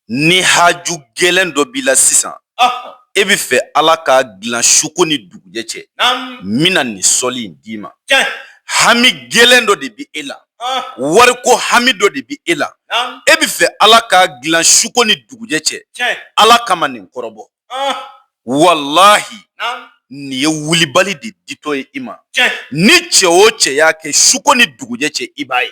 ni haju gɛlɛn dɔ b'i la sisan e bɛ fɛ ala k'a dilan suko ni dugujɛ cɛ n bɛna nin sɔli in d'i ma hami gɛlɛn dɔ de bɛ e la wariko hami dɔ de bɛ e la e bɛ fɛ ala k'a dilan suko ni dugujɛ cɛ ala kama nin kɔrɔbɔ walahi nin ye wulibali de ditɔ ye i ma ni cɛ o cɛ y'a kɛ suko ni dugujɛ cɛ i b'a ye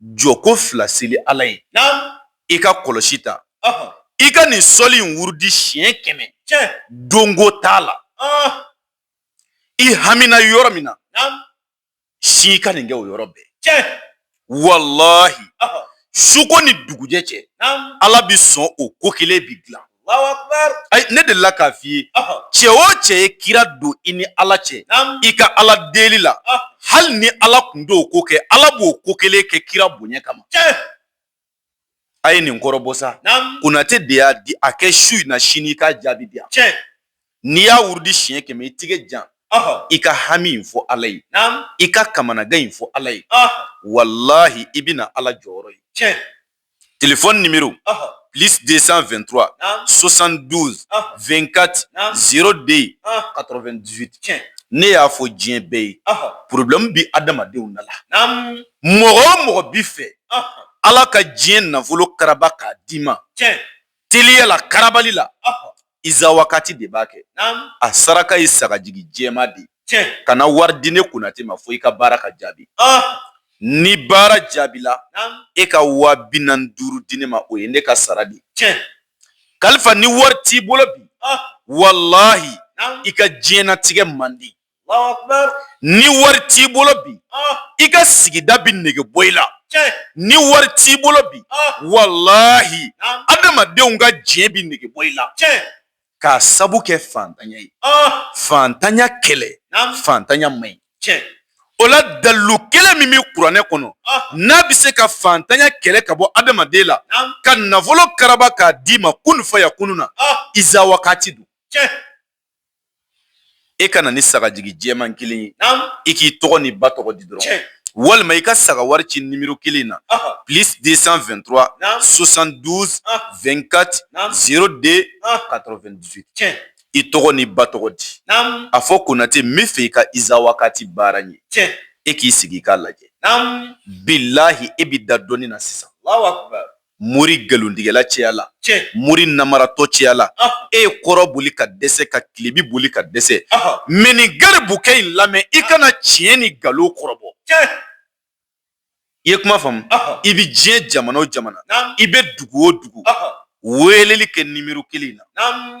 jɔko fila seli ala ye i ka kɔlɔsi ta i ka nin sɔli in wurudi siɲɛ kɛmɛ donko t'a la i hamina yɔrɔ min na se ka nin kɛ o yɔrɔ bɛɛ walahi suko ni dugujɛ cɛ ala bɛ sɔn o ko kelen bɛ dilan ne delila k'a f'i ye cɛ o cɛ ye kira don i ni ala cɛ i ka ala deli la hali ni ala tun t'o ko kɛ ala b'o ko kelen kɛ kira bonya kama a ye nin kɔrɔbɔ sa konatɛ de y'a di a kɛ su in na sini i k'a jaabi di yan n'i y'a wurudi siɲɛ kɛmɛ i tigɛ jan i ka hami in fɔ ala ye i ka kamanagan in fɔ ala ye walahi i bɛna ala jɔyɔrɔ ye telefɔni nimero plus 223 72 24 02 98 ne y'a fɔ diɲɛ bɛɛ ye problème bi adamadenw na la mɔgɔ o mɔgɔ bi fɛ ala ka diɲɛ nafolo karaba k'a d'i ma teliya la karabali la Iza wakati de b'a kɛ a saraka ye sagajigi jɛman de ye kana wari di ne konatɛ ma fo i ka baara ka jaabi ni baara jaabila e ka wa bi naani ni duuru di ne ma o ye ne ka sara de ye kalifa ni wari t'i bolo bi walahi i ka diɲɛnatigɛ man di ni wari t'i bolo bi ah. i ka sigida bɛ nege bɔ i la ni wari t'i bolo bi ah. walahi adamadenw ka diɲɛ bɛ nege bɔ i la k'a sabu kɛ fantanya ye ah. fantanya kɛlɛ fantanya man ɲi o la dalilu kelen min bɛ kuranɛ kɔnɔ n'a bɛ se ka fantanya kɛlɛ ka bɔ adamaden la ka nafolo karaba k'a d'i ma kun fayakunu na iza wakati don e ka na ni sagajigi jɛman kelen ye i k'i tɔgɔ n'i ba tɔgɔ di dɔrɔn walima i ka saga wari ci nimero kelen na plus 223 72 24 02 98 i tɔgɔ n'i ba tɔgɔ di a fɔ konatɛ n bɛ fɛ i ka iza wakati baara ɲɛ e k'i sigi i k'a lajɛ bilahi e bɛ da dɔnni na sisan mori nkalontigɛla caya la mori namaratɔ caya la e ye kɔrɔn boli ka dɛsɛ ka tilebin boli ka dɛsɛ mɛ nin garibukɛ in lamɛn i ka na tiɲɛ ni nkalon kɔrɔbɔ i ye kuma faamu i bɛ diɲɛ jamana o jamana i bɛ dugu o dugu weleli kɛ nimero kelen in na